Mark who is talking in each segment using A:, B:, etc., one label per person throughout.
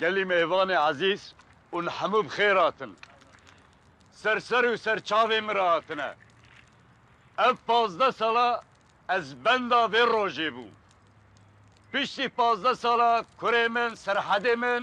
A: Gelî mêvanê ezîz ûn hemû bi xêr hatin. Ser ser û ser çavê min re hatine. Ev pazdeh sala ez benda vê rojê bûm. Piştî pazdeh sala kurê min, serhedê min.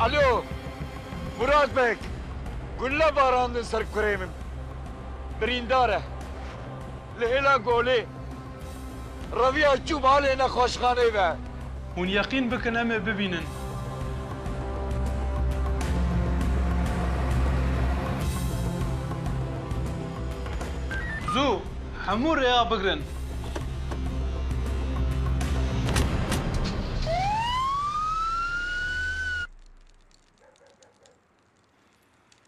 A: Alo, Murat Beg, gulle barandin ser kurê min. Birîndar e. Li hêla Golê reviya çû malê nexweşxaneyê ve. Hûn yeqîn bikin em ê bibînin. Zû hemû rêya bigirin.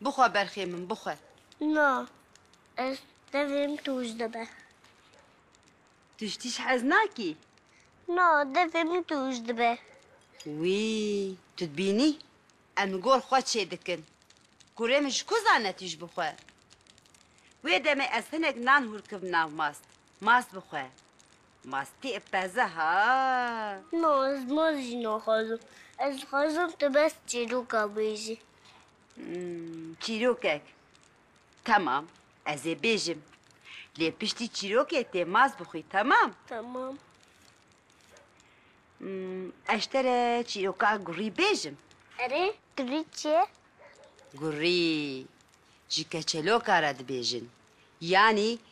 A: Bixwe berxê min, bixwe. Na, ez tevim tûj dibe. Tu ji tîj hez nakî? Na, devê min tûj dibe. Wî, tu dibînî em li gor xwe çê dikin. Kurê min ji ku zane tîj bixwe? Wê demê ez hinek nan hûrkim nav mast. Mast bixwe. Mastî peze ha! Na, ez mast jî naxwazim. Ez dixwazim tu bes çîroka bêjî. Çîrokek? Temam, ez ê bêjim. Lê piştî çîrokê tê maz bixwî, temam? Temam. Ez tere çîroka gurî bêjim. Erê, gurî çi ye? Gurî, ji keçeloka re dibêjin. Yanî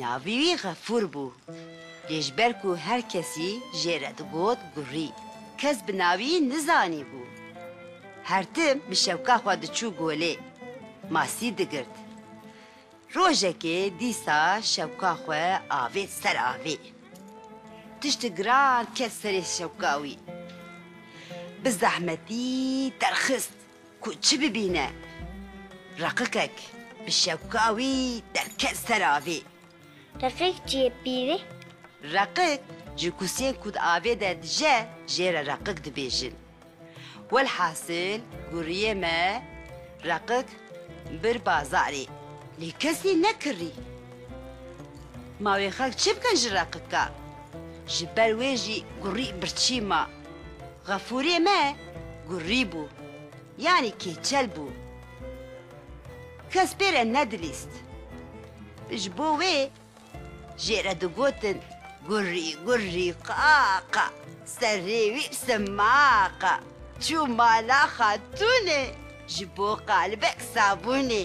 A: Navê wî Xefûr bû. Lê ji ber ku her kesî jê re digot Gurrî, kes bi navî nizanîbû. Her tim bi şewka xwe diçû golê, masî digirt. Rojekê dîsa şewka xwe avêt ser avê. Tiştê giran ket serê şewka wî. Bi zehmetî derxist. Ku çi bibîne? Reqikek bi şewka wî derket ser avê. Refik cî yê pîrê? Reqik ji kusiyên ku di avê de dije jê re reqik dibêjin. Welhasil guriyê me reqik bir bazarê. Lê kesî nekirî. Ma wê xelk çi bikin ji reqika? Ji ber wê jî gurî birçî ma. Xefûrê me gurî bû, yanî kêçel bû. Kes pê re nedilîst. Ji bo wê jê re digotin gurî gurî qa qa serê wî sima qa. Çû mala xatûnê ji bo qalibek sabûnê.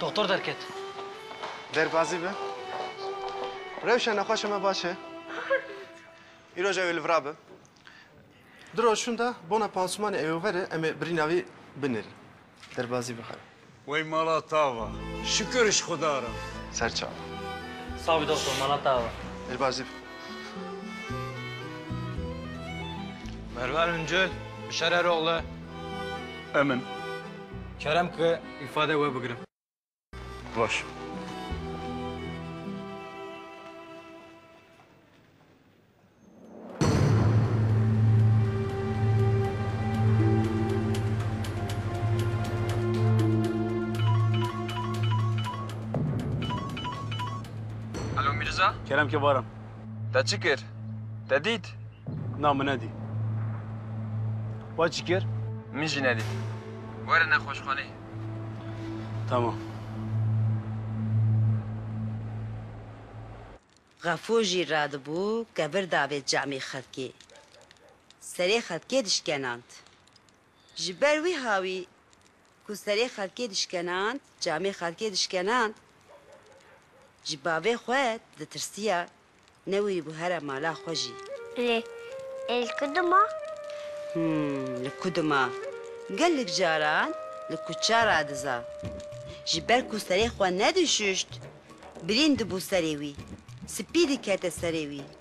A: Doktor derket. Derbazî be. Rewşa nexweşa me baş e. Îro ji ew ê li vir a bim. Di roşûn de bona pansumanê ew ê werin em ê birîna wî binêrin. Derbazî be xera. Wey mala tava. Şikir ji xuda re. Serçava. Savî doktor mala tava. Derbazî be. Mervan Öncel, Bişar Eroğlu. Emin. Kerem ki ifade we bigirim. Baş. Alo Mîrza? Kerem ke baran. Te çi kir? Te dît? Na min nedî. We çi kir? Min jî nedît. Were nexweşxanê. Tamam. Xefûr jî radibû kevir davê camê xelkê. Serê xelkê dişkenand. Ji ber wiha wî ku serê xelkê dişkenand, camê xelkê dişkenand, ji bavê xwe ditirsiya, newirîbû here mala xwe jî. Lê ê li ku dima? Him, li ku dima? Gelek caran li kuça ra diza. Ji ber ku serê xwe nedişuşt, birîn dibû serê wî, spî dikete serê wî.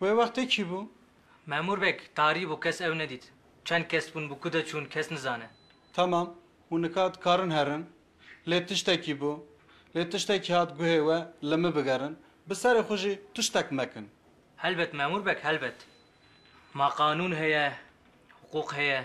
A: Wê wextê kî bû? Memûr beg, tarî bû, kes ew nedît. Çend kes bûn, bi ku de çûn, kes nizane. Temam, hûn nika dikarin herin. Lê tiştekî bû. Lê tiştekî hat guhê we, li min bigerin. Bi serê xwe jî tiştek mekin. Helbet memûr beg, helbet. Ma qanûn heye, hiqûq heye.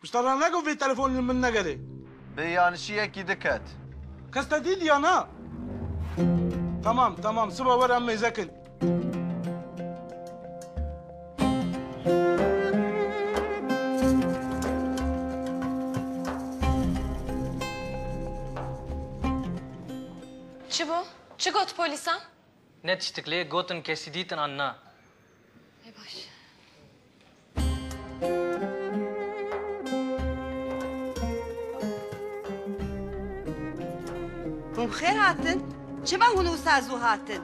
A: Pişta ra neke vê telefon li min negere. Bi yanişiyekî diket. Kes te dîdiya na? Temam, temam, siba were em mêze kin. Çi bû? Çi got polîsan? Ne tiştik lê gotin kesî dîtin an na. Hûn bi xêr hatin. Çima hûn wisa zû hatin?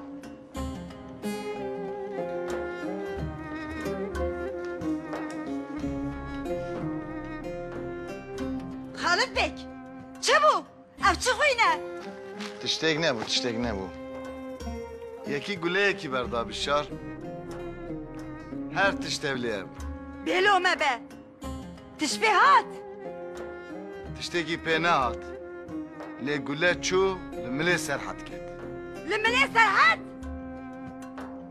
A: Xalipek! Çi bû? Ev çi xwîn e? Tiştêk nebû, tiştêk nebû. Yekî guleyekî berdabî şar. Her tişt tevlê ye bû. Bêlo me be. Tişt pê hat? Tiştêkî pê nehat. Lê gule çû li milê Serhet ket. Li milê Serhet?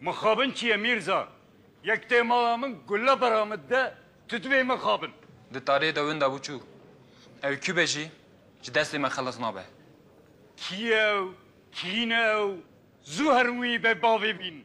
A: Mixabin çi ye Mîrza? Yek tê mala min gule bera min de, tu divê mixabin. Di tarê de winda bû çû. Ew kû be jî ji destê me xelas nabe. Kî ye ew? Kîn e ew? Zû herin wî bê bavê bîn.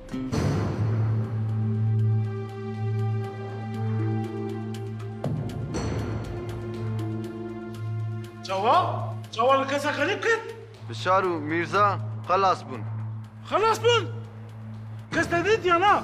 A: Çawa? Çawa li kesa xerîb kir? Bişar û Mîrza xelas bûn. Xelas bûn? Kes te dît yan na?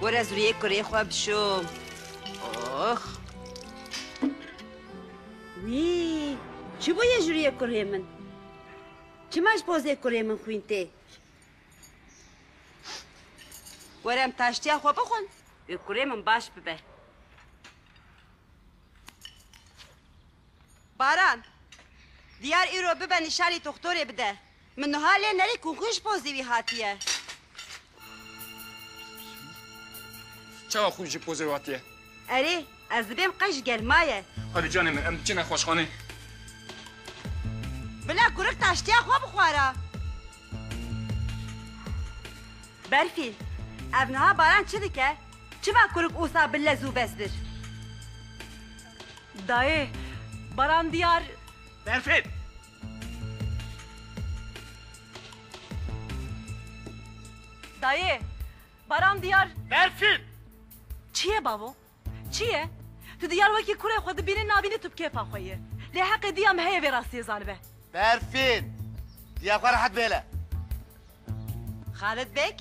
A: Were zuriyê kurê xwe bişo. Ox. Wî, çi bûye juriyê kurê min? Çima ji pozê kurê min xwîn tê? Were em taştiya xwe bixwin, wê kurê min baş bibe. Baran, diyar îro bibe nîşanî doxtorê bide. Min nuha lê nerê ku xwe ji bo zêwî hatiye. Çawa xwe ji bo zêwî hatiye? Erê, ez dibêm qey ji gel maye. Hadi canê min, em diçin nexweşxanê. Bila kurik taştiya xwe bixwara. Berfî, ev niha baran çi dike? Çima kurik ûsa bi lez û bez bir? Dayê, baran diyar. Berfî! Dayê, Baran diyar. Berfin! Çi ye bavo? Çi ye? Tu diyar wekî kurê xwe dibînî nabînî tu bi kêfa xwe yî. Lê heqê diya min heye vê rastiyê zanibe. Berfin! Diya xwe rehet bêle. Xalid Beg,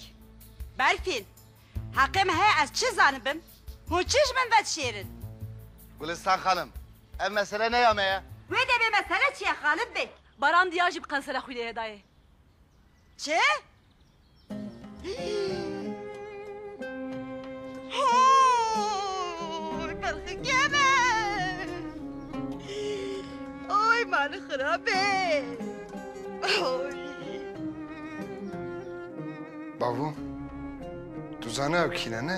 A: Berfin! Heqê min heye ez çi zanibim? Hûn çi ji min ve dişêrin? Gulistan xanim! Ev mesele ne ya me ye. Wê devê mesele çi ye Xalid Beg? Baran diya jî bi qensera xwînê heda ye. Çi? Hooy berxikê me! Hooy malê xirabê! Hooy! Bavû, tu zane ew kî ne ne?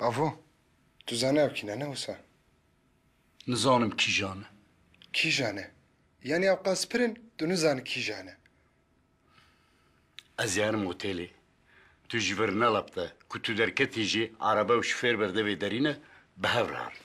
A: Avo, tu zanî ew kîne ne wisa? Nizanim kîjan e. Kîjan e? Yanî ew qas pir in, tu nizanî kîjan e? Ez yerim otelê. Tu ji vir nelapte. Ku tu derketî jî erebe û şofêr berde vê derîne, bi hev re herin.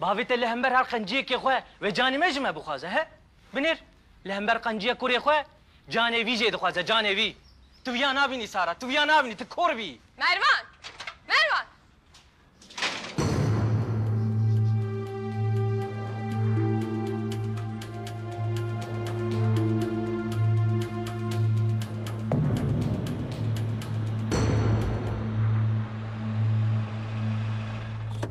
A: Bavê te li hember her qenciyekê xwe wê canê me ji me bixwaze he? Binêr, li hember qenciya kurê xwe canê vî jê dixwaze, canê vî. Tu viya nabînî Sara, tu viya nabînî, tu kor bî. Mervan! Mervan!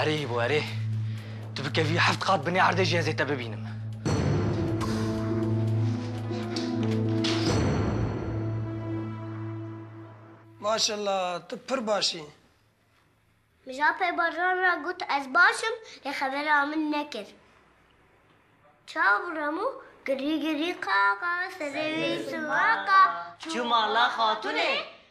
A: Erê Îbo erê. Tu bikevî heft qat binê erdê jî ez ê te bibînim. Maşallah tu pir baş î. Mija pê Baran re got ez baş im lê xebera min nekir. Çawa birem û girî girî qaqa serê wî siwaqa. Çû mala xatûnê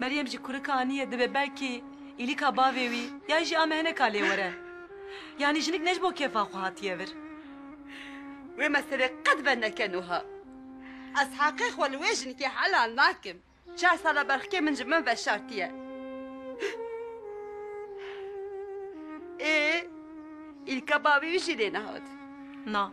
A: Meryem jî kurika anîye dibe belkî îlîka bavê wî yan jî ame hineka lê were. Yanî jinik ne ji bo kêfa xwe hatiye vir. Wê meselê qet verneke nuha. Ez heqê xwe li wê jinikê helal nakim. Çar sal e berxikê min ji min veşartiye. Ê îlka bavê wî jî lê nehatiye. Na.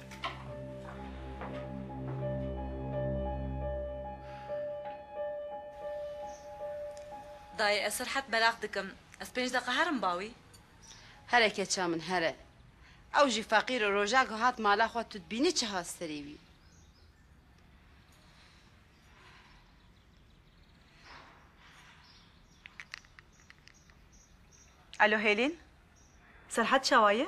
A: Dayê ez serhet belax dikim. Ez pênc deqa herim bawî. Here keça min here. Ew jî feqîr e roja ku hat mala xwe tu dibînî çiha serî wî. Elo Hêlîn. Serhet çawa ye?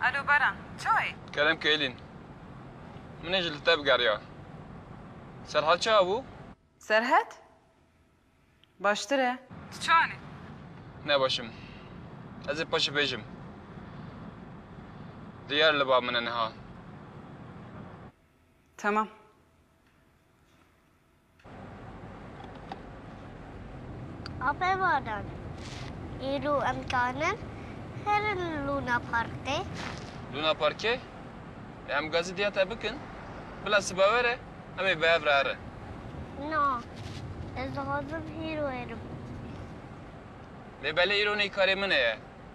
A: Alo Baran, ça ye? Kerem Keylin, Min ê ji li te bigeriya. Serhat ça bû? Serhat? Baştir e. Tu ça ne? Ne baş im. Ez ê paşê bêjim. Diyar li ba min e niha. Tamam. Apevanan îro em kanin herin li Luna Parkê. Luna Parkê? Lê em gazî diya te bikin? Bila siba were em ê bi hev re herin. Na, ez dixwazim îro herim. Lê belê îro neykarê min e ye.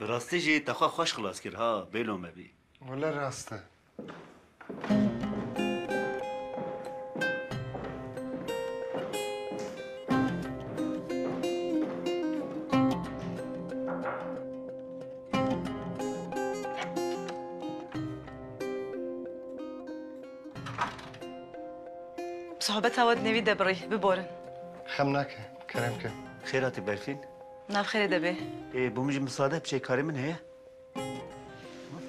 A: Bi rastî jî te xwe xweş xilas kir ha bêlo me bî. Wele rast e. Sohbeta we di nêvî de birî. Biborin. Xem nake. Kerem ke. Xêr hatî Berfîn. Navxêrê de bê. Ê bo min jî misade biçe karê min heye.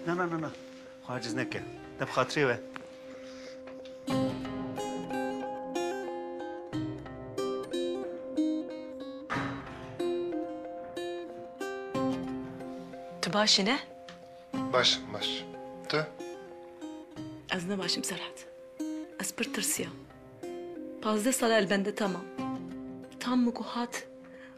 A: Na na na na. Xwe aciz neke. Te bi xatirê we. Tu baş î ne? Baş im baş. Tu? Ez ne baş im Serhat. Ez pir tirsiyam. Pazdeh sal e li bende tam im. Tam min ku hat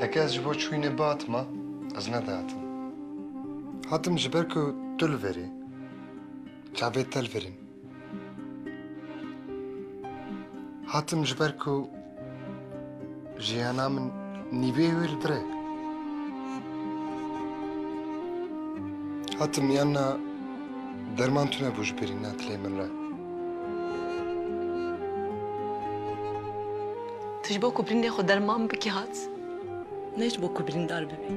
A: Heke ez ji bo çûyînê bihatima, ez nedihatim. Hatim ji ber ku tu li verî. Çavê te li vir in. Hatim ji ber ku jiyana min nîbê wê li bire. Hatim yanna derman tune bû ji berî ne dilê min re. Tu ji bo ku birîndê xwe derman bikî hat. Ne ji bo ku birîndar bibî.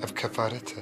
A: Ev kefaret e.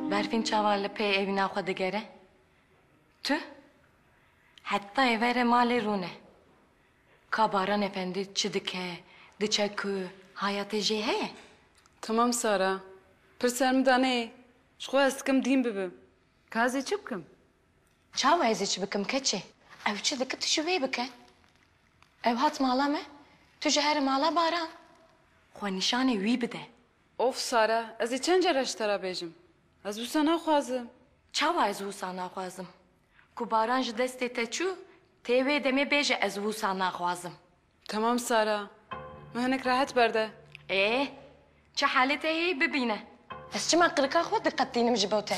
A: Berfîn çawa li pey evîna xwe digere? Tu? Heta êverê malê rûne. Ka Baran Efendi çi dike, diçe ku, hayatê jê heye? Temam Sara. Pir ser min da neyê. Ji xwe ez dikim dîn bibim. Ka ez ê çi bikim? Çawa ez ê çi bikim keçê? Ew çi dike tu jî wê bike. Ew hat mala me, tu jî here mala Baran. Xwe nîşanê wî bide. Of Sara, ez ê çend care ji te re bêjim. Ez wisa naxwazim. Çawa ez wisa naxwazim? Ku Baran ji destê te çû, tê wê demê bêje ez wisa naxwazim. Temam Sara, min hinek rehet berde. Ê, çi halê te heye bibîne. Ez çima qirika xwe diqetînim ji bo te?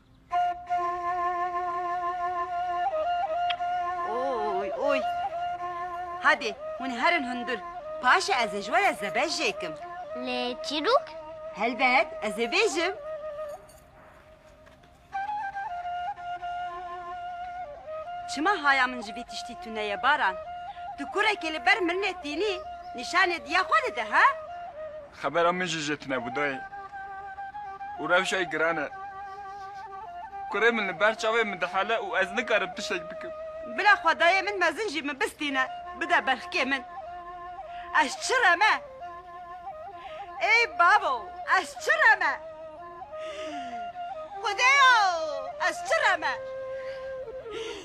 A: Oy oy. Hadi hûn herin hundir. Paşê ez ê ji we re zebeh jêkim. Lê çîrok? Helbet ez ê bêjim. Çima haya min ji vî tiştî tune ye Baran? Tu kurekê li ber min netînî nîşanê diya xwe dide ha? Xebera min jî jê tunebû dayê û rewşayî giran e. Kurê min li ber çavê min dihele û ez nikarim tiştek bikim. Bila xwe dayê min mezin jî min bistîne, bide berxkê min. Ez çi re me? Ey babo, ez çi re me? Xwedêya, ez çi re me?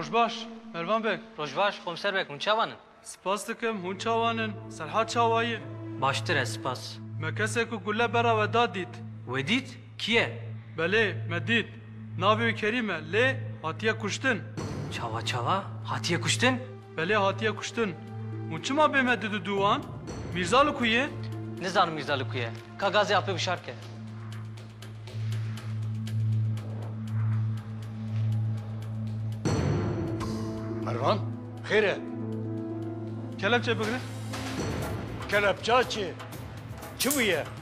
A: Roj baş, Mervan beg. Roj baş, Komser beg. Hûn çawan in? Spas dikim, hûn çawan in? Serhat çawa ye? Baştir e, spas. Me kesê ku gule bera we da dît. Wê dît? Kî ye? Belê, me dît. Navê wî Kerîm e, lê hatiye kuştin. Çawa çawa? Hatiye kuştin? Belê hatiye kuştin. Hûn çima bê me didu dû wan? Mîrza li ku ye? Nizanim Mîrza li ku ye. Ka gazê apê wişar ke. Mervan, xêr e? Kelepçe bigre. Kelepça çi? Çi bûye?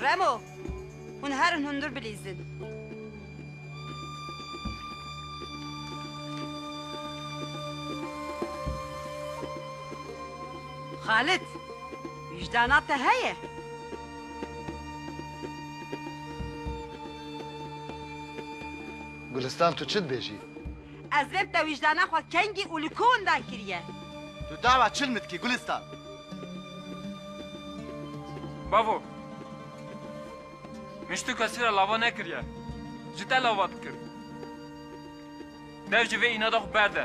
A: Remo! Hûn herin hundir bilîzin. Xalid! Wîcdana te heye? Gulistan tu çi dibêjî? Ez rêb te wijdana xwe kengî û li ku winda kiriye. Tu dawa çil min dikî Gulîstan? Bavo! Min ji tu kesî re lava nekiriye. Ji te lava dikir. Dew ji vê înada xwe berde.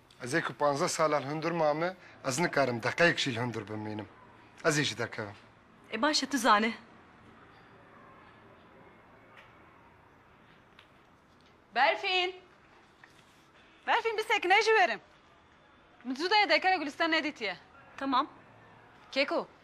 A: Ez ê ku panzdeh salan hundir mame, ez nikarim deqeyek jî li hundir bimînim. Ez ê jî derkevim. E baş e, tu zane. Berfîn! Berfîn bi sekine jî werin. Min zû de ye derkeve Gulîstan nedîtiye. Temam. Keko,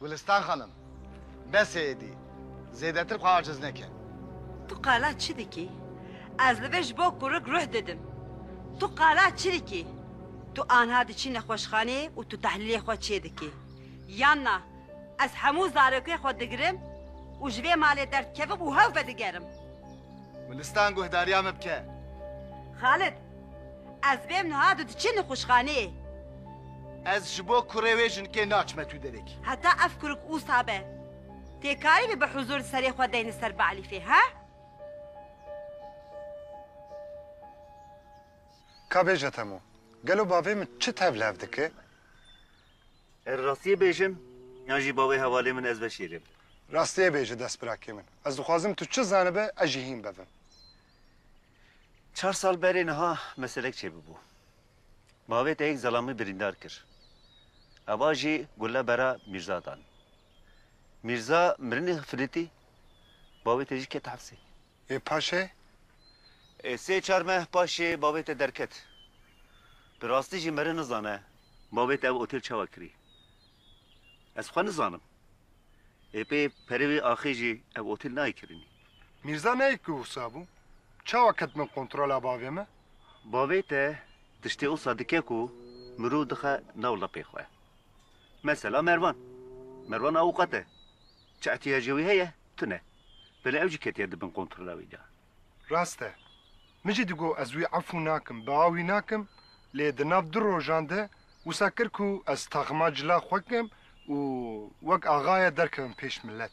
A: Gulistan xanim, besê êdî, zêdetir xwe aciz neke. Tu qala çi dikî? Ez li vê ji bo kurik ruh didim. Tu qala çi dikî? Tu anha diçî nexweşxanê û tu tehlîlê xwe çê dikî. Yan na, ez hemû zarokê xwe digirim û ji vê malê derdikevim û hev vedigerim. Gulistan guhdariya min bike. Xalid, Ez bêm niha tu diçî nixuşxaneyê. Ez ji bo kurê wê jinkê naçime tu derekî. Heta ev kurik usa be tê karîbî bi huzur di serê xwe deyni ser bi Elîfê he? Ka bêje Temo, gelo bavê min çi tevlev dike? Er rastiyê bêjim yan jî bavê hevalê min ez veşêrim? Rastiyê bêje destbirakê min. Ez dixwazim tu çi zanibe ez jî hîn bevim. Çar sal berê niha meselek çêbibû. Bavê te yek zelamî birîndar kir. Eva jî gule bera Mîrza dan. Mîrza mirinê firitî, bavê te jî ket hepsê. Ê paşê? Ê sê çar meh paşê bavê te derket. Bi rastî jî mere nizane bavê te ev otêl çawa kirî. Ez xwe nizanim. Ê pê perê wî axê jî ev otêl nayê kirinî. Mîrza neyê ku wisa bû, çawa ket bin kontrola bavê me? Bavê te tiştê wisa dike ku mirov dixe nav lapê xwe. Mesela Mervan. Mervan awukat e. Çi ihtiyacê wî heye, tune. Belê ew jî ketiye di bin kontrola wî de. Rast e. Min jî digot ez wî efû nakim, bea wî nakim, lê di nav du rojan de wisa kir ku ez taxima cila xwe kim û wek axaye derkevim pêş milet.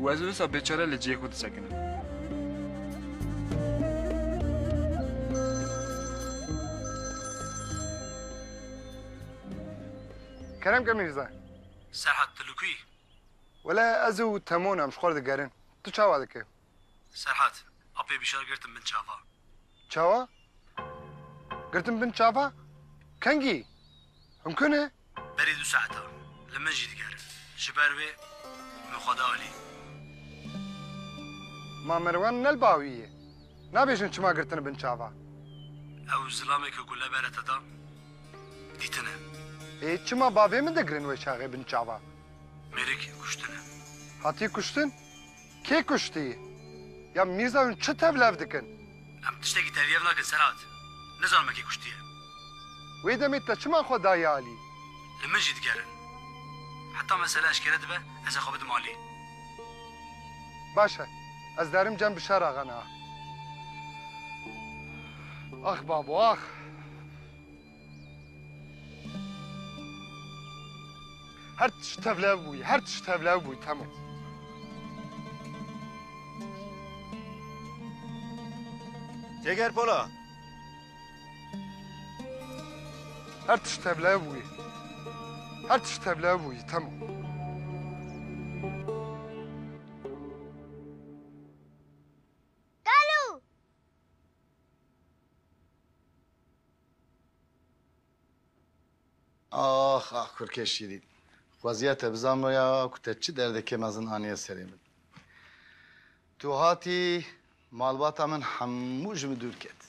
A: Û ez wisa bêçare li cihê xwe disekinim. Kerem ke Mîrza. Serhat tu li ku yî? Wele ez û Temon em ji xwe re digerin. Tu çawa dikî? Serhat, apê bîşar girtim bin çava. Çawa? Girtim bin çava? Kengî? Hûn ku ne? Berî du saet a li min jî diger. Ji ber wê min xwe da alî. Ma Merwan ne li ba wî ye. Nabêjin çima girtine bin çava. Ew zilamê ku gule bere te da, dîtine. Ê çima bavê min de girin weşaxê bin çava? Mêrik kuştine. Hatiye kuştin? Kê kuştî? Ya Mîrza hûn çi tevlev dikin? Em tiştekî tevyev nakin Serhat. Nizanim me kê kuştiye. Wê demê te çima xwe dayê alî? Li min jî digerin. Heta mesele eşkere dibe ez ê xwe bidim alî. Baş e. Ez derim cem bi şer axe niha. Ax babo ax. Her tişt tevlev bûyî, her tişt tevlev bûyî temam. Cêger Pola. Her tişt tevlev bûyî. Her tişt tevlev bûyî temam. Ax ax kurkê şîrîn. Xweziya te bizanboya ku te çi derdekê mezin aniye serê min. Tu hatî malbata min hemû ji min dûr ket.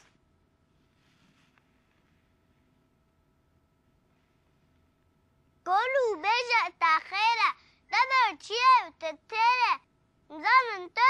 A: Kolû bêje te xêr e. Te ber çi ye û te têr e. Nizanim tu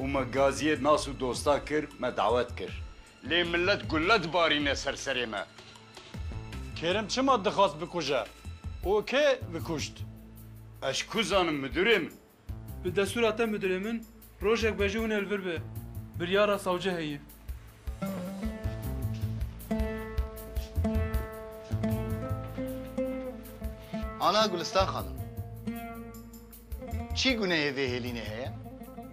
A: Û me gaziyê nas û dostan kir, me dawet kir. Lê milet gule dibarîne ser serê me. Kêrim çima dixwast bikuje û kê vikuşt? Ez ku zanim midurê min. Bi destûra te midurê min rojek be jî hûn ê li vir be. Biryara sewce heye. Ana Gulistan xanim. Çi gunehê vê hêlînê heye?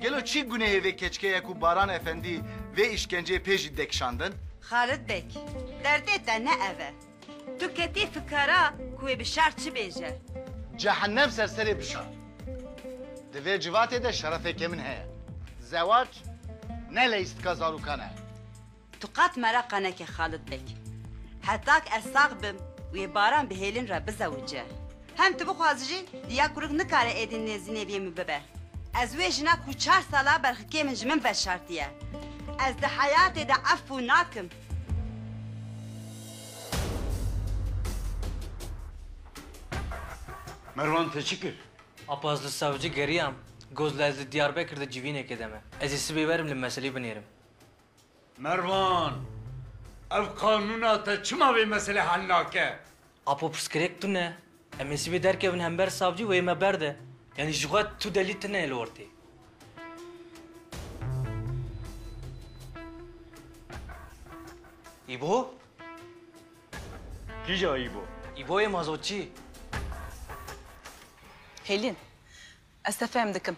A: Gelo çi gunehê vê keçikê ye ku Baran Efendî vê îşkenceyê pê jî dekişandin? Xalid Beg, derdê te ne ev e. Tu ketî fikara ku wê bi şer çi bêje. Cehennem ser serê bi şer. Di vê civatê de şerefê ke min heye. Zewac ne leyîstika zarokan e. Tu qat mereqa neke Xalid Beg. Hetak ez sax bim û yê Baran bi hêlin re bizewice. Hem tu bixwazî jî di ya kurik nikare êdî nêzî nêviyê min bibe. Ez wê jina ku çar sal a berxikê min ji min veşartiye. Ez di heyatê de efû nakim. Merwan te çi kir? Apa ez li savcî geriyam, got la ez li Diyarbekir de civînekê de me. Ez ê sibê werim li meselî binêrim. Mervan, ev qanûna te çima vê meselê hel nake? Apo pirsgirêk tune, em ê sibê derkevin hember savcî wê yê me berde. Yanî ji xwe tu delî tune yê li ortê. Îbo? Kîja Îbo? Îbo yê mazotçî. Hêlîn, ez te fehm dikim.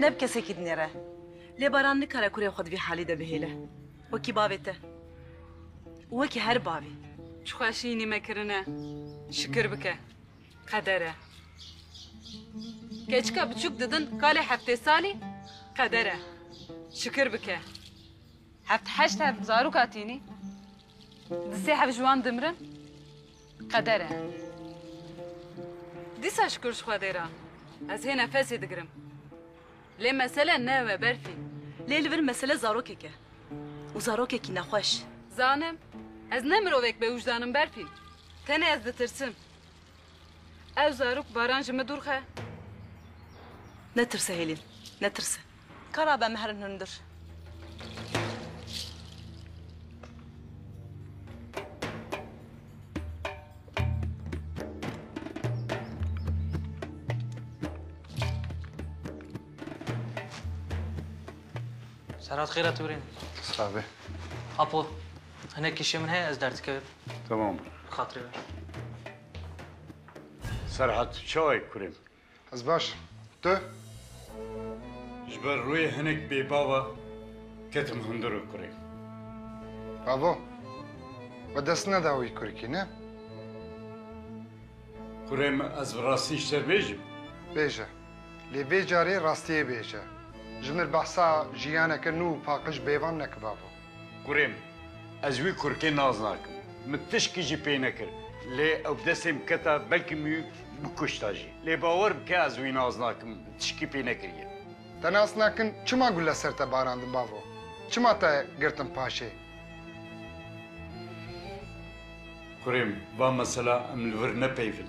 A: Ne bi kesekî dinêre. Lê Baran nikare kurê xwe di vî halî de bihêle. Wekî bavê te. Û wekî her bavê. Ji xwe şînî me kirine. Şikir bike. Qeder e. Keçika biçûk didin kalê heftê salî. Qeder e. Şikir bike. Heft heşt hev zaroka tînî. Di sê hev ji wan dimirin. Qeder e. Dîsa şikur ji Xwedê re ez hê nefesê digirim. Lê mesele ne ew e Berfîn. Lê li vir mesele zarokek e. Û zarokekî nexweş. Zanim ez ne mirovek bewijdan im Berfîn. Tenê ez ditirsim. Ew zarok baran ji min dûr xe. Netirse Hêlîn, netirse. Ka ra be mehrn hundir. Serhat xêra tûrên. Sabe. Apo, hinek kişê min heye ez derdikevim. Tamam. Bi xatirê ver. Serhat, çawa ye kurê min? Ez baş im. Tu? Ji ber rûyê hinek bêbava ketim hundir û kurê. Avo, we dest neda wî kurikî, ne? Kurê min ez bi rastî ji te bêjim? Bêje. Lê vê carê rastiyê bêje. Ji min behsa jiyaneke nû û paqij bêvan neke bavo. Kurê min, ez wî kurkê naz nakim. Min tişkî jî pê nekir. Lê ew bi destê min keta, belkî min wî bikuşta jî. Lê bawer bike ez wî naz nakim, min tişkî pê nekiriye. Te nas nakin çima gule ser te barandin bavo? Çima te girtin paşê? Kurê min, va mesela em li vir nepeyivin.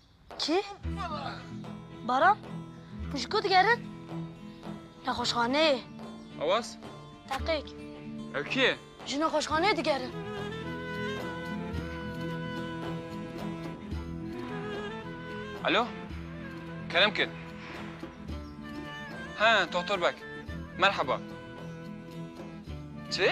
A: Kî? Baran? Hûn ji ku digerin? Nexweşxaneyê. Awaz? Teqîk. Ew kî ye? Ji nexweşxaneyê digerin. Alo? Kerem kir. He, Tohtor beg. Merheba. Çi?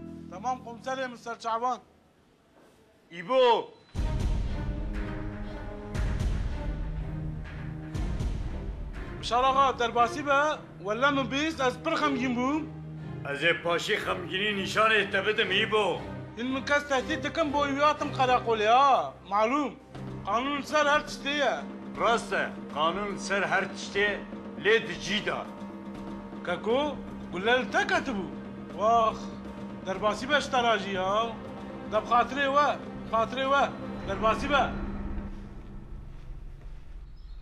A: Tamam komiserê min serçavan. İbo! Bişar axa derbasî be, welle min bîst ez pir xemgîn bûm. Ez ê paşê xemgînî nîşanê te bidim İbo. Hîn min kes tehdît dikin bo îwî hatim qereqolê a, malûm. Qanûn li ser her tiştê ye. Rast e, qanûn li ser her tiştê ye, lê di cî de. Keko, gule li te ketibû. Wax, derbasî be ji te re jî ya. De bi xatirê we, bi xatirê we, derbasî be.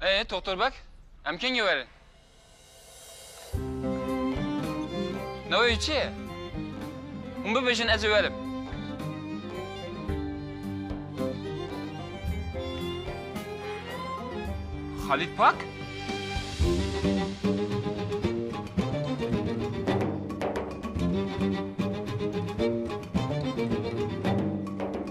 A: Ê, Toxtor beg, em kengî werin? Navê wî çi ye? Hûn bibêjin ez ê werim. Xalîd Pak?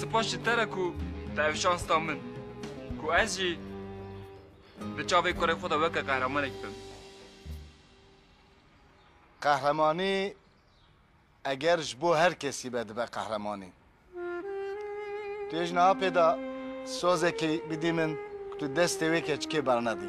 A: Spas ji te re ku te ev şans da min ku ez jî di çavê kurê xwe de weke qehremanek bim. Qehremanî eger ji bo her kesî be dibe qehremanî. Tu yê ji niha pê de sazekî bidî min ku tu destê wê keçikê bernedî.